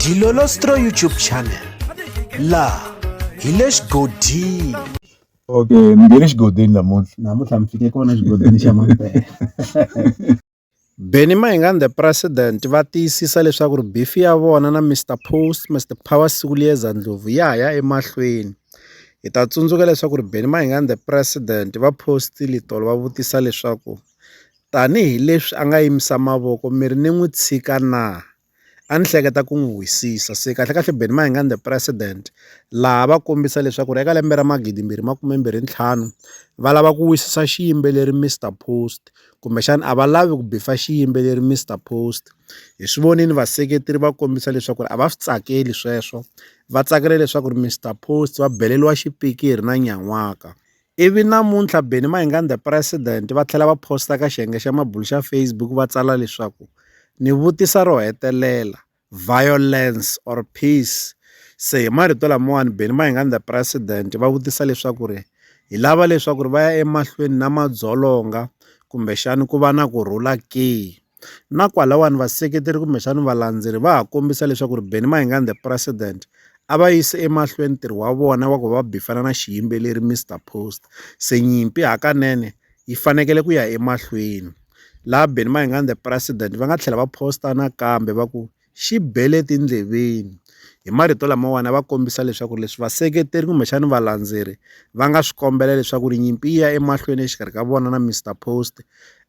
Dilolostro YouTube channel la hi le xigodini okay mi nge le xigodini namuntlha namuntlha mi fike kona xigodini xa mampela Benny Mayengani the president va tiyisisa leswaku ri bifi ya vona na Mr Post Mr Power Sikuliyeza Ndlovu ya ya emahlweni hi ta tsundzuka leswaku ri Benny Mayengani the president va postile tolo va vutisa leswaku Tanihi leswi a nga yimisa mavoko mi ri ni n'wi tshika na? A ni hleketa ku n'wi wisisa. Se kahlekahle Benny Mayengani the president laha va kombisa leswaku ri eka lembe ra magidi mbirhi makume mbirhi ntlhanu va lava ku wisisa xiyimbeleri Mister Post kumbexana a va lavi ku bifa xiyimbeleri Mister Post hi swi vonile vaseketeri va kombisa leswaku ri a va swi tsakeli sweswo va tsakela leswaku ri Mister Post va beleriwa xipikiri na nyan'waka. Ivi namuntlha Benny Mayengani the President va tlhela va posta ka xiyenge xa mabulu xa Facebook va tsala leswaku ni vutisa ro hetelela violence or peace se hi marito lamawani Benny Mayengani the President va vutisa leswaku ri hi lava leswaku ri va ya emahlweni na madzolonga kumbexani ku va na ku rhula ke. Na kwalawani vaseketeri kumbexana valandzeri va ha kombisa leswaku ri Benny Mayengani the president a va yise emahlweni ntirho wa vona wa ku va bifana na xiyimbeleri Mr Post se nyimpi hakanene yi fanekele ku ya emahlweni laha Benny Mayengani the president va nga tlhela va posta nakambe va ku. xi bele etindleveni. Hi marito lamawani va kombisa leswaku leswi vaseketeri kumbexani valandzeri va nga swi kombela leswaku ri nyimpi yi ya emahlweni exikarhi ka vona na Mister Post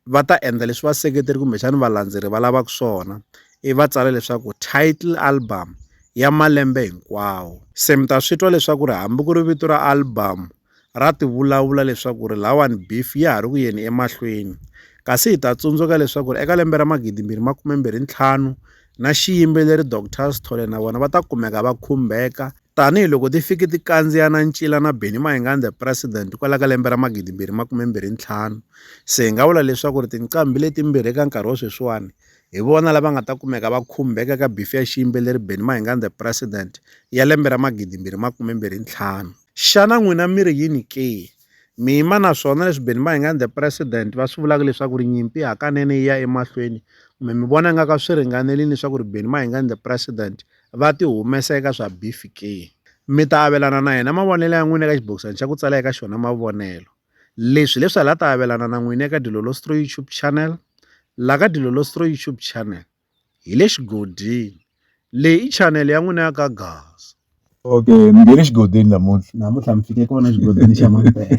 va ta endla leswi vaseketeri kumbexani valandzeri va lavaka swona i va tsala leswaku title album ya malembe hinkwawo se mi ta swi twa leswaku ri hambi ku ri vito ra album ra tivulavula leswaku ri lawani beef ya ha ri ku yeni emahlweni kasi hi ta tsundzuka leswaku ri eka lembe ra magidi mbirhi makume mbirhi ntlhanu na xiyimbeleri Doctor Sithole na vona va ta kumeka va khumbeka tanihiloko ti fike ti kandziya na ncila na Benny Mayengani the president kwala ka lembe ra magidi mbirhi makume mbirhi ntlhanu se hi nga vula leswaku ri tinqambi letimbirhi eka nkarhi wa sweswiwani hi vona lava nga ta kumeka va khumbeka ka bifi ya xiyimbeleri Benny Mayengani the president ya lembe ra magidi mbirhi makume mbirhi ntlhanu Xana n'wina mi ri yini ke? Mi yima na swona leswi beni va hi nga ni the president va swi vulaka leswaku ri nyimpi hakanene yi ya emahlweni kumbe mi vona nga ka swi ringanerile leswaku ri beni va hi nga ni the president va ti humesa eka swa beef ke mi ta avelana na yena mavonelo ya n'wina eka xibokisana xa ku tsala eka xona mavonelo leswi leswi hala ta avelana na n'wina eka dilolostro youtube channel la ka dilolostro youtube channel hi le xigodini. Leyi i chanele ya n'wina ya ka Gaza. Okay, mi nge le xigodini namuntlha. Namuntlha mi fike kona xigodini xa Mampela.